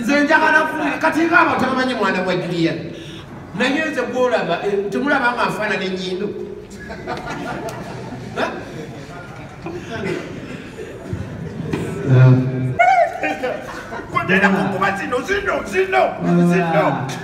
nze njagala funa kati nga abantu abamanyi mwana gwa julian naye nze gwolaba eh, temulaba nga nfaana nenyindo kudera kukuba zino zino zino zino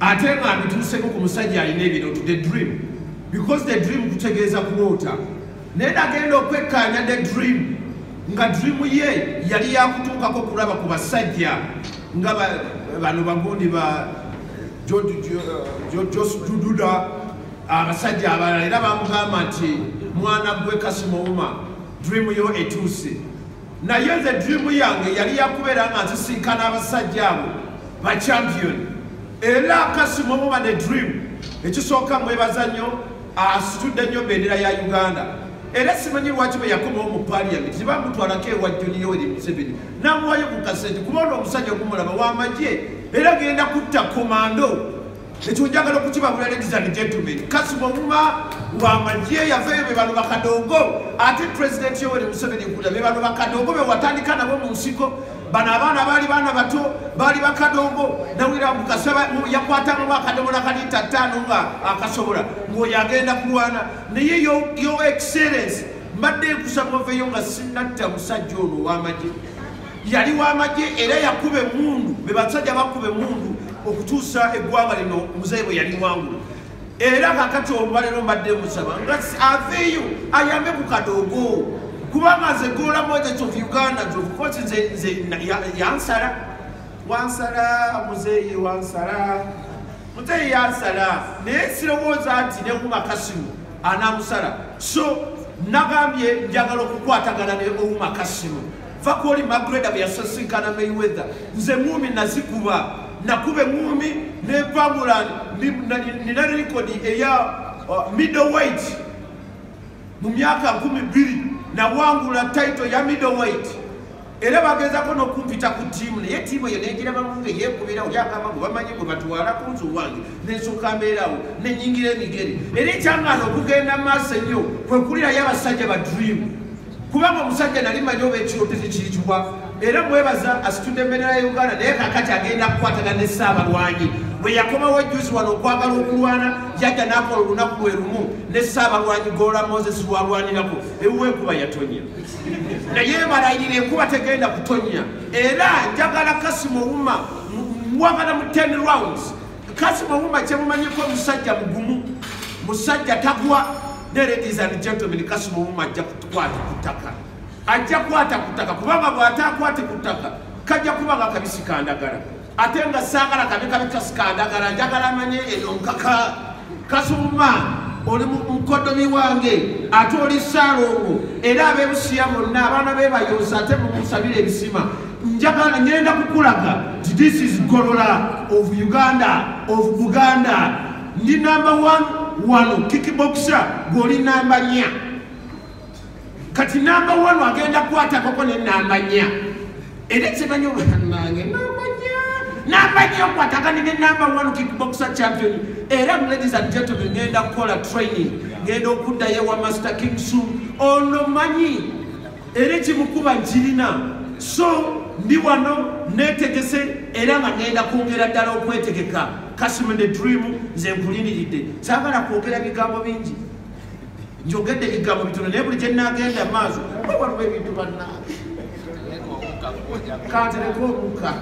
ate nga abituuseko ku musajja alina ebirooto the dream because the dream kutegeeza kuloota naye nagenda okwekkaanya the dream nga dream ye yali yakutuukako kulaba ku basajja nga bano bagundi ba jos dududa abasajja abalala era bamugamba nti mwana gwe kasimowuma dream yo etuuse naye nze dream yange yali yakubeera nga nzisinkana abasajja abo bachampion era kasima omuba ne dream ekisooka mwebaza nnyo asitudde nnyo bendera ya uganda era simanyi lwaki bwe yakomawo mu paliament tebamutwalako ewa joni yoweri museveni namuwayo ku kasente kuba ono omusajja okumulaba wamagye era genda kutta komando ekyo njagala okukibabula ladies and gentlemen kasima omuma wamagye yavaeyo bebano bakadongo ate president yoweri museveni kula bebano bakadongo bewatandika nabo mu nsiko bano abaana baali baana bato baali bakadongo nawira mukasaba yakwatanga mwakadomola kalita ttaano nga akasobola ngaoyo agenda kulwana naye yo excellence mbadde nkusaba oveyo nga sinatta musajja ono wamagye yali wamagye era yakuba emundu bebasajja bakuba emundu okutuusa eggwanga lino muzeyi bwe yali wangulu era kakati olwalero mbadde musaba nga aveeyo ayambe ku kadoogo kubanga nze goola mojec of uganda zokukozi nze yansala wansala muzeyi wansala muzeyi yansala naye sirowooza nti newumakasimu anamusala so nagambye njagala okukwatagana ne owumakasimu va kwoli magreda bwe yasisinkana mayweather nze ngumi nazikuba nakuba engumi nevangula nina rekodi eya uh, middleweight mu myaka nkumi bbiri nawangula title ya middleweight era bagezako nokumpita ku tiimu naye tiimu eyo negirabamu nga yekubira oli agamba gwe bamanyi gwe batwala ku nzu wange nensooka mbeerawo nenyingira emigere era ekyangaana okugenda maaso ennyo kwekulirayo abasajja ba dreamu kubanga omusajja nali manyi oba ekiro tekikirikiwa era mwebaza asitudde embeera ya uganda naye kakati agenda kukwatagana ne ssaabalwanyi bwe yakomawo ejjuzi wano okwagala okulwana yajja n'akola olunaku lwe lumu ne ssaabalwanyi goola moses lwalwanirako ewuwa enkuba yatonya naye balayira enkuba tegenda kutonya era njagala kasimu owuma wabala mu 10 rounds Kasi Mawuma kyemumanyeko musajja mugumu musajja tagwa ne ladies and gentlemen Kasi Mawuma ajja kukwata ku ttaka ajja kwata ku ttaka kubanga bw'ataakwate ku ttaka kajja kuba nga kabisi kandagala ate nga saagala kabe kabi kasi kandagala njagala amanye eno nkaka Kasi Mawuma oli mukodomi wange ate oli saalongo era abebusiya bonna abaana bebayonsa ate mumusabira ebisima njagala ngenda kukulaga ti this is golola of uganda of buganda ndi namba one wano kikibokisa gwoli namba nya kati namba one agenda kukwatagoko ne namba nya era kimanyi obanange namba nya namba nya okwatagane ne namba one kikibokisa champion era ladies and gentlemen ngenda kukola training ngenda okuddayo ewa master king su ono manyi era ekimukuba nkirina so ndi wano netegese era nga ngenda kwongera ddala okwetegeka kasima ne dream nze nkuliniridde sagala kwogera bigambo bingi njogedde bigambo bitono naye buli kyenagenda maaso wewaliwo ebintu banna kantereka omuka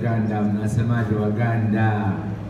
Waganda, mnasemaje Waganda?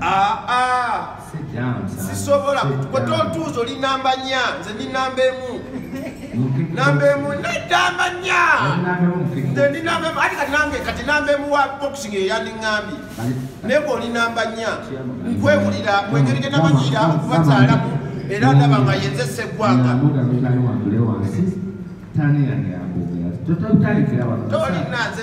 Ah, ah. sisobola gwe tontuuza oli namba nya nze ndi namba emu namba emu nedamba nya nze ndi namba emu ati kati nange kati namba emu wa boxing eyandiŋambi naye gwe oli namba nya nkwewulira mwengeri gye namanyiira okubazaalamu era ndaba nga yenze seggwanga tolina nze